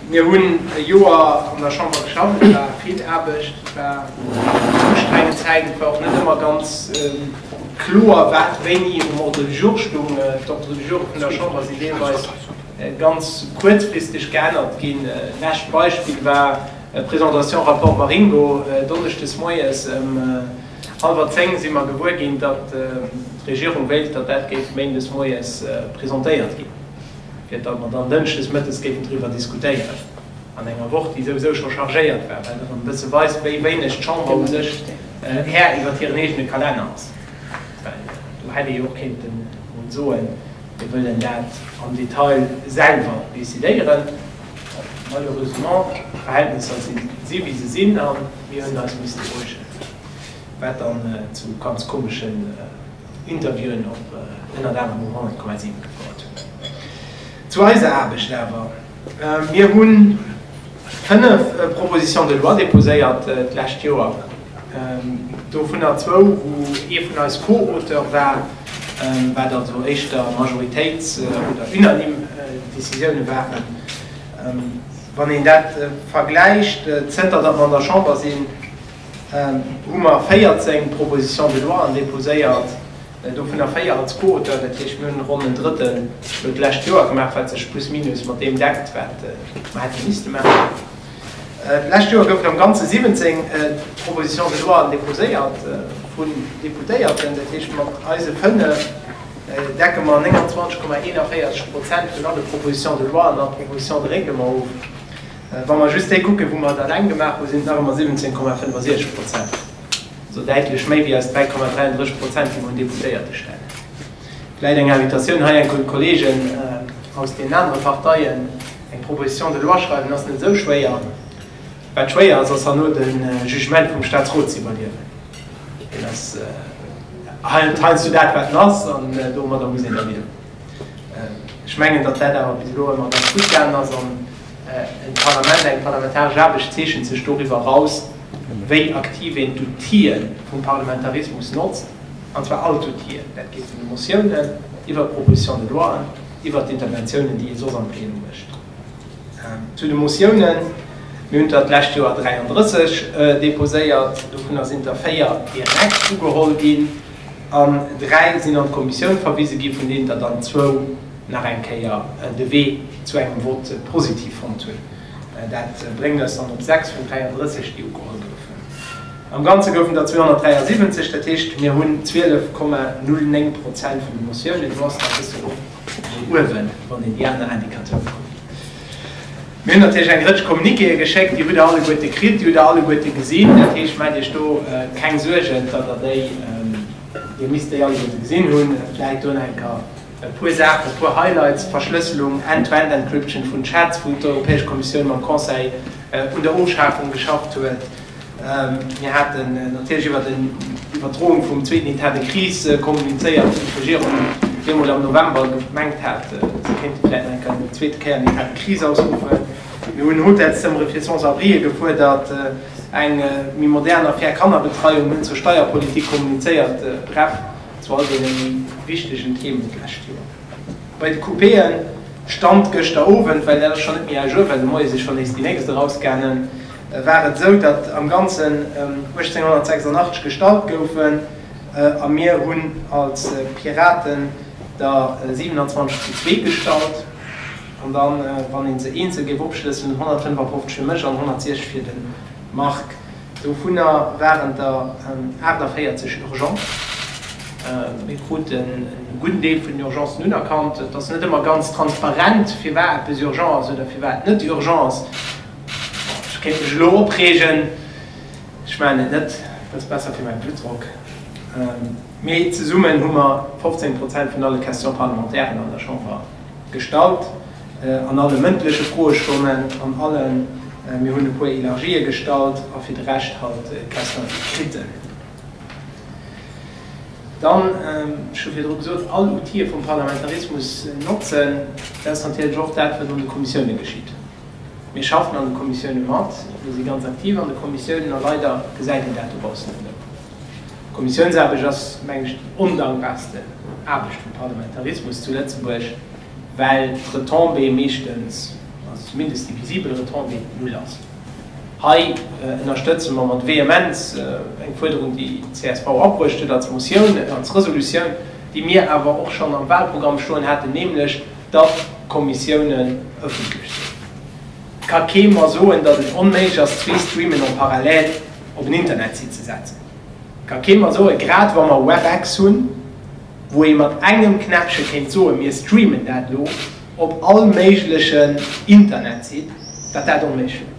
Mir hunn e Joer an der Chamber geschafft. Et war vill Aarbecht, et war eng ustrengend Zäit. Et war och net ëmmer ganz kloer, wat wéini um Ordre du jour stoung. D'Ordre du joure vun der Chamber sinn deelweis ganz kuerzfristeg geännert ginn. Lescht Beispill war d'Presentation Rapport Maringo. Donneschdes moies ëm hallwer zéng si mer gewuer ginn, datt d'Regierung wéilt, datt dat géif Méindes moies presentéiert ginn. fir datt mer dann Dënschdes mëttes géifen driwwer diskutéieren, an enger Woch, déi souwisou scho chargéiert war, wat erëm e bësse weist, wéi wéineg d'Chamber u sech Här iwwert hiren eegene Kalenner ass. Well do hätt ee jo och kéinten emol soen, mir wëllen dat am Detail selwer decidéieren. Malheureusement, d'Verhältnisser si si wéi se sinn, a mir hunn eis misste beruhigen, wat dann zu ganz komesche. Interviewen op ënnert anerem um 100,7 gefouert. Zu eiser Aarbecht awer, Mir hu fënnef Propositions de loi déposéiert d'lescht Joer, dovunner zwou, wou ee vun eis Co-Auteur war, wat also éischter Majoritéits oder unanime Décisioune waren. Wann een dat vergläicht, zënter datt mer an der Chamber sinn, hu mer 14 Propositions de loi déposéiert, dovunner 4 als Co-Auteur. Dat heescht, mir hunn ronn en Drëttel iwwert d'lescht Joer gemaach, wat sech plus minus mat deem deckt, wat mer hätte misste maachen. D'lescht Joer goufen am Ganze 17 Propositions de loi déposéiert vun Deputéierten. Dat heescht, mat eise 5 decke mer 29,41 Prozent vun alle Propositions de loi a Propositions de règlement of. Wa mer just déi kucken, wou mer et alleng gemaach hunn, sinn et nach ëmmer 17,65 Prozent, also däitlech méi wéi eis 3,33 Prozent, déi mer un Deputéierte stellen. Vläicht eng Invitatioun hei enk un d'Kollegen aus deenen anere Parteien, Eng Proposition de loi schreiwen ass net esou schwéier. Wat schwéier ass, ass herno de Jugement vum Statsrot ze iwwerliewen. Deen ass heiansdo dat, wat en ass, an domadder muss een da liewen. Ech mengen, datt dat awer bis elo ëmmer ganz gutt gaangen ass an e Parlament, eng parlamentaresch Aarbecht zeechent sech doriwwer eraus, wéi aktiv een d'Outië vum Parlamentarismus notzt, an zwar all d'Outië. Dat geet vun de Motiounen iwwer d'Propositions de loien, iwwert d'Interventiounen, déi ee soss am Plenum mécht. Zu de Motiounen, Mir hunn der d'lescht Joer 33 deposéiert, dovunner sinn der véier direkt ugeholl ginn. an dräi sinn an d'Kommissioun verwise gi vun deenen der dann zwou nach eng Kéier de Wee zu engem Vote positiv fonnt hunn. Dat bréngt eis dann op sechs vun 33 déi ugeholl goufen. Am Ganze goufen der 273, dat heescht mir hunn 12 Komma 09 Prozent vun de Motiounen. Do ass nach e bësse Loft no uewen wann een déi aner Indicateuren kuckt. Mir hunn natierlech eng Rëtsch Communiquéë geschéckt, déi hutt Der alleguerte kritt, déi hutt Der alleguerte gesinn. Dat heescht, maacht Iech do keng Suergen, datt Der déi, Dir misst déi alleguerte gesinn hunn. Vläicht do nach eng Kéier e puer Saachen, e puer Highlights, Verschlësselung, End-to-End-Encryption vun Chats, wou d'Europäesch Kommissioun mam Conseil un der Ofschafung geschafft huet. Mir haten natierlech iwwer d'Iwwerdroung vum zweeten Etat de crise kommunizéiert, wou d'Regierung jo emol am November gemengt hat, se kéinte vläicht nach eng Kéier eng zweete Kéier en Etat de crise ausruffen. Mir hunn Hotelszëmmere fir Sans-abrië gefuerdert, eng méi modern a fair Kannerbetreiung, hunn zur Steierpolitik kommunizéiert, bref, zu all deene méi wichtegen Themen d'lescht Joer. Bei de Coupéen, Stand gëschter Owend, well dat ass schonn net méi à jour, well de Moie si schonn nees déi nächst erausgaangen, war et esou, datt am Ganzen 1886 gestallt goufen a mir hunn als Piraten der 27 zu zwee gestallt an dann, wann ee se eenzel géif opschlëssen, 155 fir mech an 160 fir de Marc. Dovunner waren der 48 urgent. Mir kruten e gudden Deel vun den Urgencen unerkannt. Et ass net ëmmer ganz transparent, firwat eppes urgent ass oder firwat et net urgent ass. Ech kéint mech elo opreegen, ech maachen et net, dat ass besser fir mäi Bluttdrock. Mee zesummen hu mer 15 Prozent vun alle Questions parlementairen an der Chamber gestallt, an alle mëndleche Froestonnen, an alle, mir hunn e puer Elargië gestallt a fir de Rescht halt d'Questions écrites. Dann, ech hu virdru gesot, all Outile vum Parlamentarismus notzen, dat ass natierlech och dat, wat an de Kommissioune geschitt. Mir schaffen an de Kommissioune mat, mir si ganz aktiv an de Kommissiounen a leider gesäit een dat dobaussen net ëmmer. D'Kommissiounsaarbecht ass, meng ech, déi ondankbarste Aarbecht vum Parlamentarismus zu Lëtzebuerg, well d'Retombée meeschtens, also zumindest déi visibel Retombée, null ass. Hei ënnerstëtze mer mat Vehemenz eng Fuerderung, déi csv abruecht huet als Motioun, als Resolutioun, déi mir awer och schonn am Wahlprogramm stoen haten, nämlech, datt d'Kommissiounen ëffentlech sinn. Et ka kee mer soen, datt et onméiglech ass, zwee Streamen en parallèle op en Internetsite ze setzen. Et ka kee mer soen, grad wa mer Webex hunn, wou ee mat engem Knäppche kéint soen, mir streamen dat elo op all méiglechen Internetsite, datt dat onméiglech wier.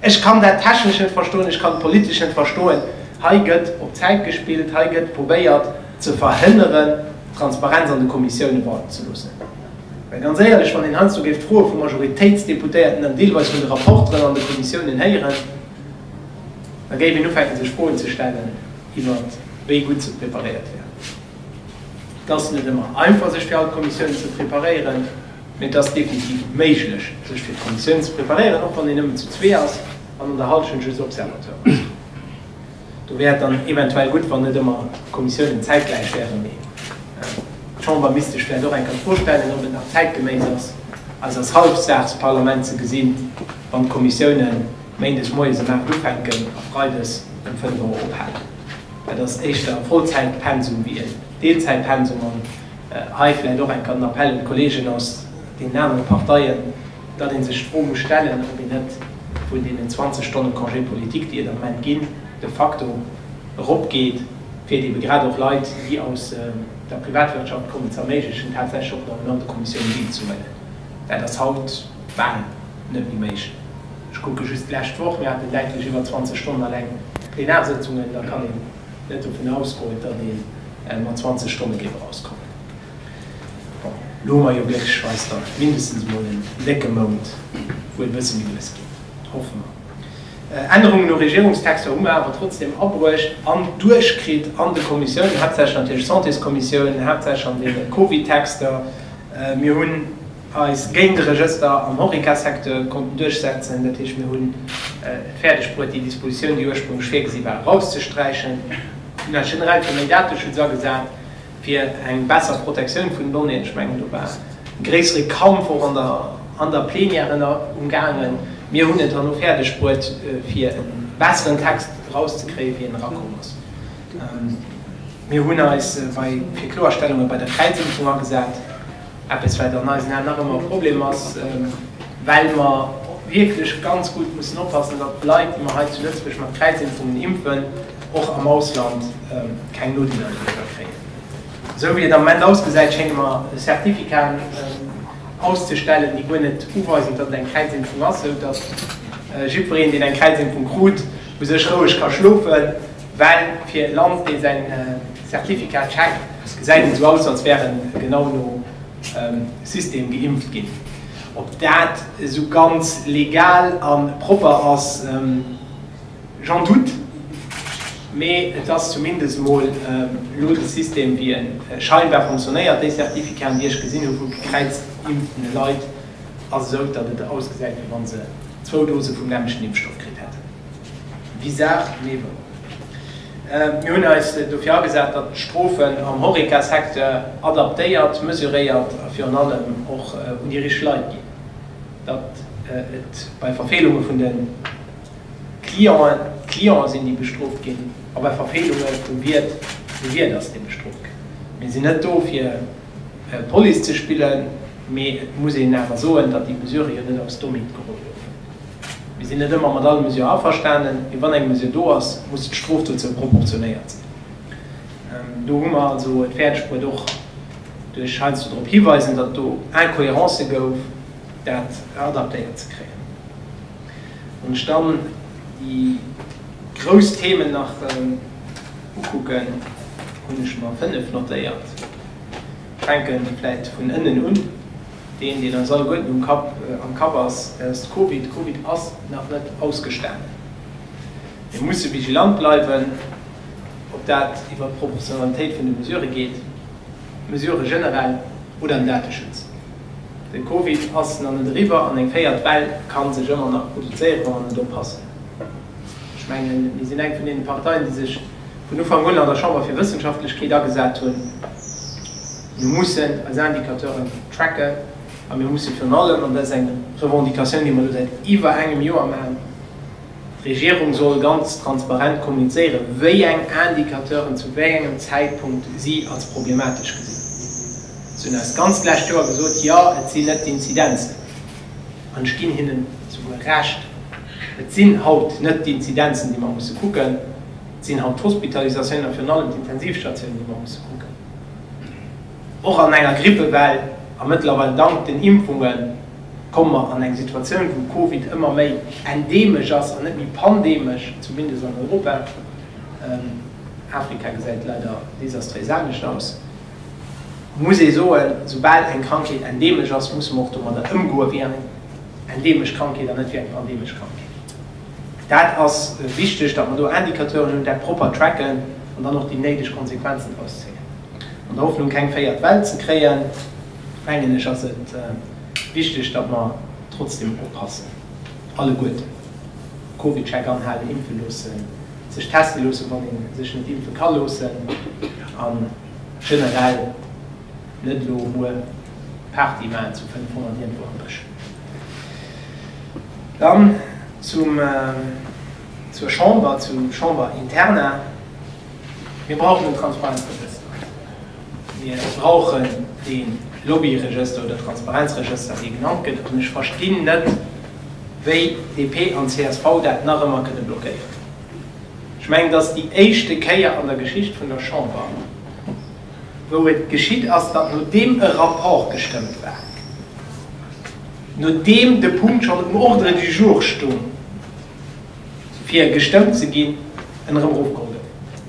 Ech kann dat Technescht net verstoen, ech kann d'Politescht net verstoen. Hei gëtt op Zäit gespillt, hei gëtt probéiert, ze verhënneren, d'Transparenz an de Kommissioune walten ze loossen. Mä ganz éierlech, wann een heiansdo géif d'Froe vu Majoritéitsdeputéierten an deelweis vun de Rapporteren an de Kommissiounen héieren, da géif een ufänken, sech Froen ze stellen iwwert wéi gutt se preparéiert wären. Et ass net ëmmer einfach, sech fir all d'Kommissiounen ze preparéieren. Mä et ass definitiv méiglech, sech fir d'Kommissiounen ze preparéieren, och wann een nëmmen zu zwee ass an an der Hallschent just Observateur ass. Do wär et dann eventuell gutt, wann net ëmmer d'Kommissiounen zäitgläich wären, mee d'Chamber misst sech vläicht och eng Kéier d'Fro stellen, ob et nach zäitgeméis ass, eis als Halbsaagsparlament ze gesinn, wann d'Kommissiounen méindes moies ëm 8 ufänken a freides ëm 5 Auer ophalen. Dat ass éischter e Vollzäitpensum wéi en Deelzäitpensum. An hei vläicht och eng Kéier den Appell un d'Kollegen aus deenen anere Parteien, datt ee sech d'Fro muss stellen, ob een net vun deenen 20 Stonne Congé politique, déi et am Moment ginn, de facto eropgeet, fir et eebe grad och Leit, déi aus der Privatwirtschaft kommen, ze erméiglechen, tatsächlech och normal un de Kommissiounen deelzehuelen. Dat ass haut bal net méi méiglech. Ech kucke just d'lescht Woch, mir haten däitlech iwwer 20 Stonnen eleng Plenarsëtzungen. Da kann een net dovun ausgoen, datt ee mat 20 Stonne géif erauskommen. Bon, lo hu mer jo glécklech weis da mindestens emol en décke Mount, wou et e bësse méi lues geet, hoffe mer. Ännerungen u Regierungstexter hu mer awer trotzdeem abruecht an duerchkritt an de Kommissiounen, haaptsächlech natierlech d'Santéskommissioun, haaptsächlech an deene Covid-Texter. Mir hunn eis géint e Regëster am Horeca-Secteur konnten duerchsetzen, dat heescht, mir hunn et fäerdeg bruet, déi Dispositioun, déi ursprünglech virgesi war, erauszesträichen. Mir hunn eis generell fir méi Dateschutz agesat. fir eng besser Protektioun vun Donnéeën, ech mengen do war e gréissere Kampf och an der Plenière ënner um gaangen, mir hunn et herno fäerdeg bruet fir e besseren Text erauszekréien wéi en erakomm ass. Mir hunn eis bei fir Kloerstellunge bei der Kräizimpfung agesat, eppes wat an eisen Aen nach ëmmer e Problem ass, well mer wierklech ganz gutt mussen oppassen, datt d'Leit déi mer hei zu Lëtzebuerg mat Kräizimpfungen impfen, och am Ausland keng Nodeeler doriwwer kréien. Esou wéi et am Moment ausgesäit, schéngt et mer Zertifikaten auszestellen, déi guer net uweisen, datt et eng Kräizimpfung ass, esou datt jiddwereen, deen eng Kräizimpfung krut, u sech roueg ka schlofen, well fir e Land, dee seng Zertifikate checkt, gesäit et esou aus, als wär en genau no System geimpft ginn. Ob dat esou ganz legal a propper ass? J'en doute, mee et ass zumindest mol elo de System wéi e scheinbar fonctionnéiert. Déi Certificaten, déi ech gesinn hu vu gekräizt geimpften Leit, ass esou, datt et ausgesäit, wéi wann se zwou Dose vum nämmlechten Impfstoff kritt hätten. Bizarre, mee wouer. Mir hunn eis dofir agesat, datt d'Strofen am Horeca-Secteur adaptéiert, mesuréiert a virun allem och un déi richteg Leit ginn, datt et bei Verfeelunge vun de. Clienten, d'Clienten sinn déi bestrooft ginn, a bei Verfeelunge vum Wiert, de Wiert ass dee bestrooft gëtt. Mir sinn net do fir Police ze spillen, mee et muss een awer soen, datt déi Mesurë jo net aus dem Nitt geholl goufen. Mir sinn net ëmmer mat alle Mesurë averstanen, mee wann eng Mesure do ass, muss d'Strof dozou proportionéiert sinn. Do hu mer also et fäerdeg bruet och duerch heiansdo drop hiweisen, datt et do Incohérencë gouf, dat adaptéiert ze kréien. Wann ech dann déi grouss Themen nach ukucken, hunn ech mer fënnef notéiert. Ech fänke vläicht vun ënnen un, deen, deen eis alleguerten um Kapp, am Kapp ass, dat ass d'Covid. D'Covid ass nach net ausgestanen. Mir musse vigilant bleiwen, ob dat iwwert d'Proportionalitéit vun de Mesurë geet, d'Mesurë generell oder den Dateschutz. Den Covid ass nach net eriwwer an eng véiert Well kann sech ëmmer nach produzéieren, wa mer net oppassen. Ech mengen, mir sinn eng vun deenen Parteien, déi sech vun Ufank un an der Chamber fir Wëssenschaftlechkeet agesat hunn. Mir mussen eis Indicateuren tracken a mir mussen virun allem, an dat ass eng Revendicatioun, déi mer elo säit iwwer engem Joer maachen, d'Regierung soll ganz transparent kommunizéieren, wéi eng Indicateuren zu wéi engem Zäitpunkt si als problematesch gesinn. Si hunn eis d'ganzt lescht Joer gesot, jo, et sinn net d'Inzidenzen, an ech ginn hinnen souguer Recht, et sinn haut net d'Inzidenzen, déi mer musse kucken, et sinn haut d'Hospitalisatiounen a virun allem d'Intensivstatiounen, déi mer musse kucken, och an enger Grippewell. A mëttlerweil, dank den Impfunge komme mer an eng Situatioun, wou Covid ëmmer méi endeemesch ass an net méi pandeemesch, zumindest an Europa. Afrika gesäit leider desastréis anescht aus. muss ee soen, soubal eng Krankheet endeemesch ass, musse mer och domadder ëmgoe wéi eng endeemesch Krankheet an net wéi eng pandeemesch Krankheet. Dat ass wichteg, datt mer do Indicateuren hunn, dat propper tracken an dann och déi néideg Konsequenzen draus zéien. An der Hoffnung, keng véiert Well ze kréien, mengen ech, ass et wichteg, datt mer trotzdeem oppassen, alleguerten, Covid-Check anhalen, impfe loossen, sech teste loossen, wann ee sech net impfe ka loossen, a generell net elo muer Party maachen zu 500 iergendwou am Bësch. Dann zum, zur Chamber, zur Chamber interna. Mir brauchen en Transparenzregëster. Mir brauchen dee Lobbyregëster oder Transparenzregëster, dee genannt gëtt. An ech verstinn net, wéi DP an csv dat nach ëmmer kënne blockéieren. Ech mengen, et ass déi éischte Kéier an der Geschicht vun der Chamber, wou et geschitt ass, datt nodeem e Rapport gestëmmt war, nodeem de Punkt schonn um Ordre du jour stoung, fir gestëmmt ze ginn, en erëm erofgeholl gëtt.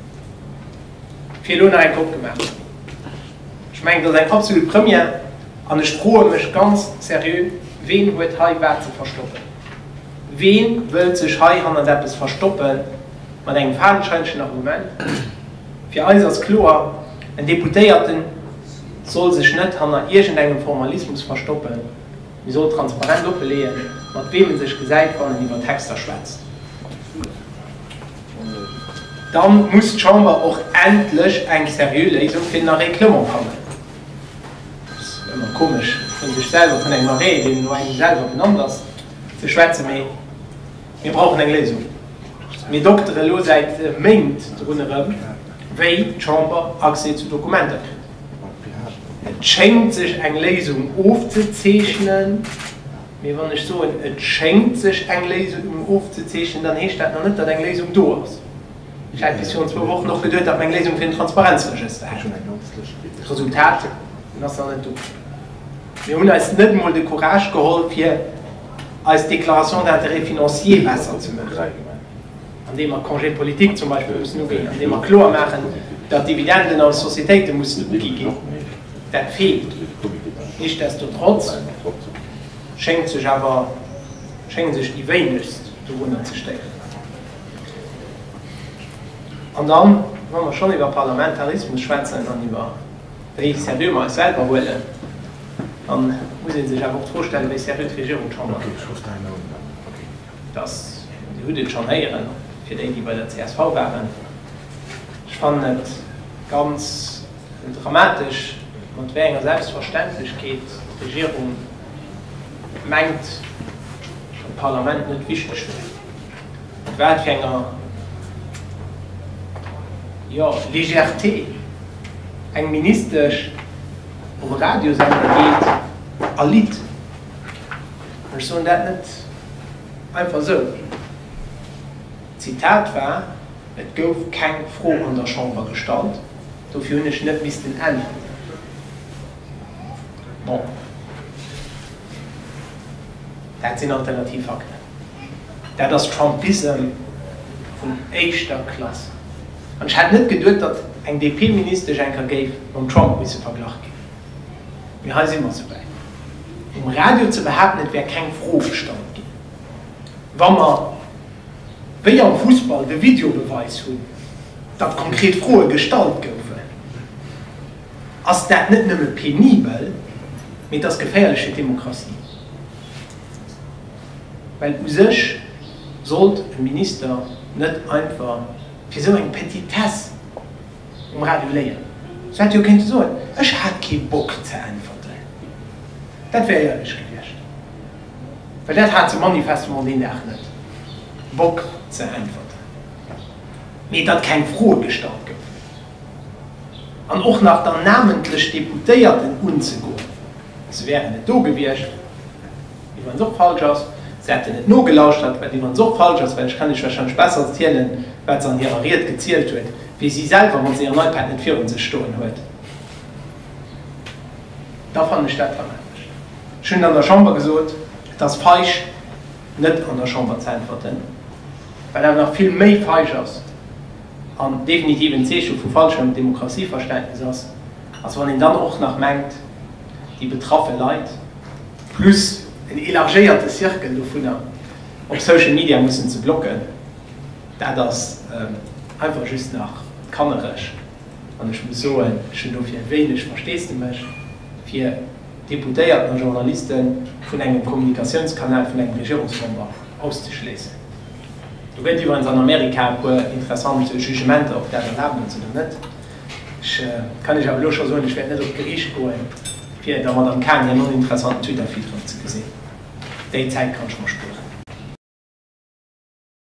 fir elo nach eng Kopp gemaach ze hunn. Ech mengen, et ass eng absolut Première an ech froe mech ganz seriö, Ween huet hei wat ze verstoppen? Ween wëllt sech hei hannert eppes verstoppen mat engem fadenscheinlechen Argument? Fir eis ass kloer, en Deputéierte soll sech net hanner iergendengem Formalismus verstoppen, mee soll transparent offeleeën, mat weem e sech gesäit, wann en iwwer Texter schwätzt. Dann muss d'Chamber och endlech eng seriö Léisung fir den Arrêt Clement fannen. Et ass ëmmer komesch, vun sech selwer, vun engem Arrêt, deen no engem selwer benannt ass, ze schwätzen, mee mir brauchen eng Léisung. Mir dokteren elo säit Méint drun erëm, wéi d'Chamber Accès zu Dokumenter kritt. Et schéngt sech eng Léisung ofzezeechnen. Mee wann ech soen, et schéngt sech eng Léisung ofzezeechnen, dann heescht dat nach net, datt eng Léisung do ass. Ech hat bis virun zwou Wochen och geduet, datt mer eng Léisung fir den Transparenzregëster hätten. D'Resultat, en ass nach net do. Mir hunn eis net emol de Courage geholl, fir eis Déclaration d'intérêts financiers besser ze maachen. andeem mer Congé politique zum Beispill mussen uginn, andeem mer kloer maachen, datt Dividenden als Sociéitéite mussen ugi ginn, dat feelt. Nichtsdestotrotz schéngt sech awer, schéngen sech déi wéinegst dorunner ze stéieren. An dann, wa mer schonn iwwer Parlamentarismus schwätzen an iwwer wéi seriö mer eis selwer huelen, da muss ee sech awer och d'Fro stellen, wéi seriö d'Regierung d'Chamber huet. Dass, Dir hutt et schonn héieren, fir déi, déi bei der csv waren, ech fannen et ganz dramatesch, mat wéi enger Selbstverständlechkeet d'Regierung mengt, datt d'Parlament net wichteg wier, mat wat fir enger, jo, Légèreté eng Ministesch op e Radiosender geet a litt. An ech soen dat net einfach esou. D'Zitat war, Et gouf keng Fro an der Chamber gestallt, dofir hunn ech net missten äntweren. Bon, dat sinn alternativ Fakten. Dat ass Trumpism vun éischter Klass. An ech hätt net geduet, datt eng DP-Ministesch enker géif mam Trump misse verglach ginn. Mee hei si mer sou wäit. Um Radio ze behaapten, et wär keng Fro gestallt ginn, wa mer, wéi am Fussball, de Videobeweis hunn, datt konkret Froe gestallt goufen, ass dat net nëmme penibel, mee et ass geféierlech fir d'Demokratie. Well u sech sollt e Minister net einfach fir esou eng Petitesse um Radio léieren. Se hätte jo kéinte soen, Ech hat kee Bock ze äntwerten. Dat wär éierlech gewiescht. Well dat hat se manifestement deen Dag net, Bock ze äntwerten. Mee datt keng Froe gestallt goufen an och nach dann namentlech Deputéierten unzegoen, se wären net do gewiescht. Mee wann se och falsch ass, se hätten net nogelauschtert, well, mee wann se och falsch ass, well ech kann Iech wahrscheinlech besser zielen, wat se an hirer Ried gezielt huet, wéi si selwer, wann se ihren iPad net virun sech stoen huet, da fannen ech dat dramatesch. Ech hunn et an der Chamber gesot, Et ass feig, net an der Chamber ze äntwerten, wat awer nach vill méi feig ass an definitiv en Zeeche vu falschem Demokratieverständnis ass, ass, wann een dann och nach mengt, déi betraffe Leit, plus en élargéierte Cercle dovunner op Social Media mussen ze blocken, dat ass einfach just nach kannereg. An ech muss soen, ech hunn dofir wéineg Versteesdemech fir Deputéierten a Journalisten vun engem Kommunikatiounskanal vun engem Regierungsmember auszeschléissen. Do gëtt iwwerens an Amerika e puer interessant Jugementer, ob dat erlaabt ass oder net. Ech kann Iech awer elo scho soen, ech wäert net op d'Geriicht goen, fir der Madame Cahen hir non-interessanten Twitter-Feed erofzegesinn. Déi Zäit kann ech mer spueren.